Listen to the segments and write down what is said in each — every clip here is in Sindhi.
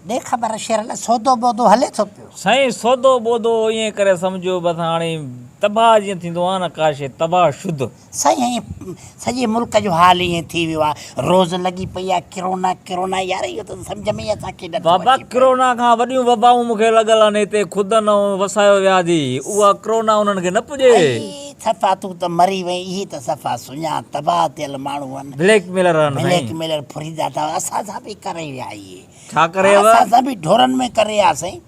ڏي خبر شيرل سودو ٻودو هلي ٿو پيو. سائين سودو ٻودو ائين ڪري سمجهو بس هاڻي تباهه جيئن ٿيندو آهي نه ڪا شيء تباهه شد. سائين سڄي ملڪ جو حال ائين ٿي ويو آهي روز لڳي پئي آهي ڪرونا ڪرونا يار اهو ته سمجهه ۾ ئي اسان کي نٿو بابا اچي. ڪرونا کان وڏيون وبائون مون کي لڳل آهن هتي خدن ائون وسايو وياڌي اها ڪرونا انهن کي نه پڄي. اي صفا تون ته مري وئين اهي ته صفا سڃا تباهه ٿيل ماڻهو آهن. بليڪ ميلر آهن سائين. بليڪ ميلر ڦريدا ٿا اسان سان به ڪري ويا اهي. ڇا ڪريو؟ ها سان سان به ڍورن ۾ ڪري آ سائين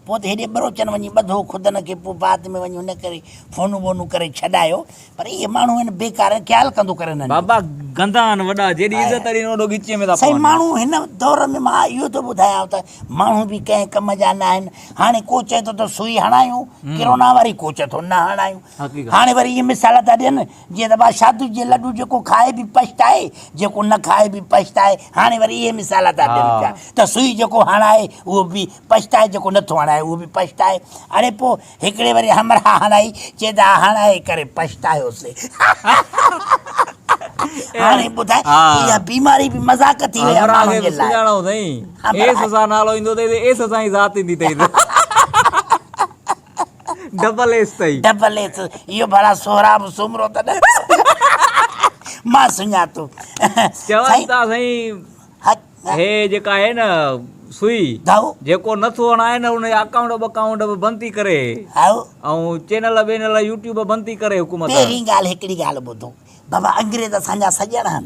پوء ته هيڏي ٻروچن وڃي ٻڌو خدن کي پوء بعد ۾ وڃي هن ڪري فونون ٻونون ڪري ڇڏايو پر اهي ماڻهو هن بيڪار خيال ڪندو ڪر هنن جو. بابا گندا آهن وڏا جيڏي عزت اڏين اوڏو ڳچيء ۾ ٿا سائين پون. ماڻهو هن دور ۾ مان اهو ٿو ٻڌايانو ته ماڻهو به ڪنهن ڪم جا ناهن هاڻي ڪو چئي ٿو ته سوئي هڻايون ڪرونا واري ڪو چئي ٿو نه هڻايون حقيقت. هاڻي وري اهي مثال ٿا ڏين جيئن ته ٻا شاهدوش جي لڏو جيڪو کائي به پڇتائي جيڪو نه کائي به پڇتائي هاڻي وري اهي مثال ٿا ڏين پيا ته سوئي جيڪو هڻائي اهو به پڇتائي جيڪو نٿو هڻائي اهو به پڇتائي اڙي پوء هڪڙي وري همراهه هڻائي چئي ته آء هڻائي ڪري پڇتايوسي هاڻي ٻڌاء اها بيماري به مذاق ٿي وئي آهي ماڻهن جي لاء همراهه کي به سڃاڻو اٿئي ايس سان نالو ايندو اٿئي ته ايس سان ئي ذات ايندي اٿئي ته ڊبل ايس تئي. ڊبل ايس اهو ڀلا سهراب سومرو ته نه مان سڃاتو. چون ٿا سائين هي جيڪا آهي نه سوئي جيڪو نٿو هڻائي نه ان جا اڪائونٽ ٻڪائونٽ به بند ٿي ڪري ۽ چينل وينل يوٽيوب بند ٿي ڪري حڪومت. پهرين ڳالهه هڪڙي ڳالهه ٻڌو بابا انگريز اسان جا سڄڻ هن.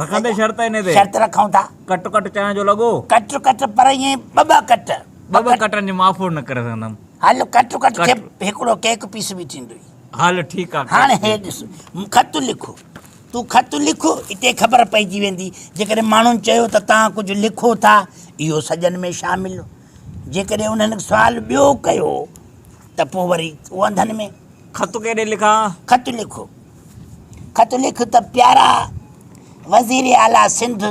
رکندي شرط انهي تي. شرط رکون ٿا. ڪٽ ڪٽ چانهه جو لڳو. ڪٽ ڪٽ پر ائين ٻه ٻه ڪٽ. ٻه ٻه ڪٽن جي ماڦوڙ نه ڪري سگهندم. هل ڪٽ ڪٽ کي هڪڙو ڪيڪ پيس به ٿيندو ئي. هل ٺيڪ آ. هاڻ هي ڏس مون خط لکو. تون خط لک اتي خبر پئجي ويندي. جيڪڏهن ماڻهن چيو ته توهان ڪجهه لکو ٿا اهو سڄن ۾ شامل. جيڪڏهن انهن سوال ٻيو ڪيو ته پوء وري اهو انڌن ۾. خط ڪيڏي لکان؟ خط لکو. خط لک ته پيارا وزير اعليٰ سنڌ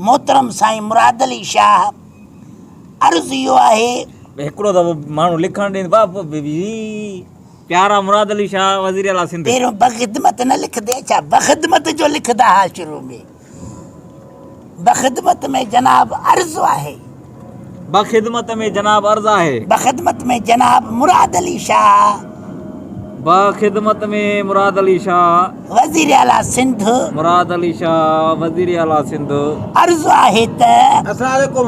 محترم سائين مراد علي شاهه عرض اهو آهي هڪڙو دفعو ماڻهو لکڻ ڏين باب پيارا مراد علي شاهه وزير اعليٰ سنڌ پهريون بخدمت نه لکندي ڇا بخدمت جو لکندا ها شروع ۾ بخدمت ۾ جناب عرض آهي. بخدمت ۾ جناب عرض آهي. بخدمت ۾ جناب مراد علي شاهه. بخدمت ۾ مراد علي شاهه. وزير اعليٰ سنڌ. مراد علي شاهه وزير اعليٰ سنڌ. عرض آهي ته. اسلام عليڪم.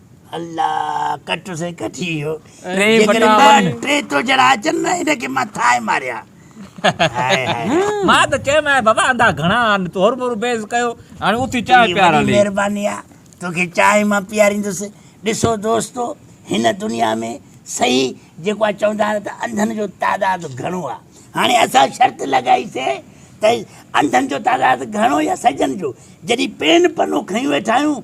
الله ڪٽ سين ڪٽي ويو ٽي بٽا وڃ ٽي تو جهڙا اچن نه ان کي مان ٿائي ماريا مان ته چيم آهي بابا اندا گهڻا آن تور مور بيز ڪيو هاڻي اٿي چانهه پيارا لي مهرباني آ توکي چانهه مان پياريندس ڏسو دوستو هن دنيا ۾ صحيح جيڪو آ چوندا آهن ته انڌن جو تعداد گهڻو آ هاڻي اسان شرط لڳائي سي ته انڌن جو تعداد گهڻو يا سجن جو جڏي پين پنو کنيو ويٺا آهيون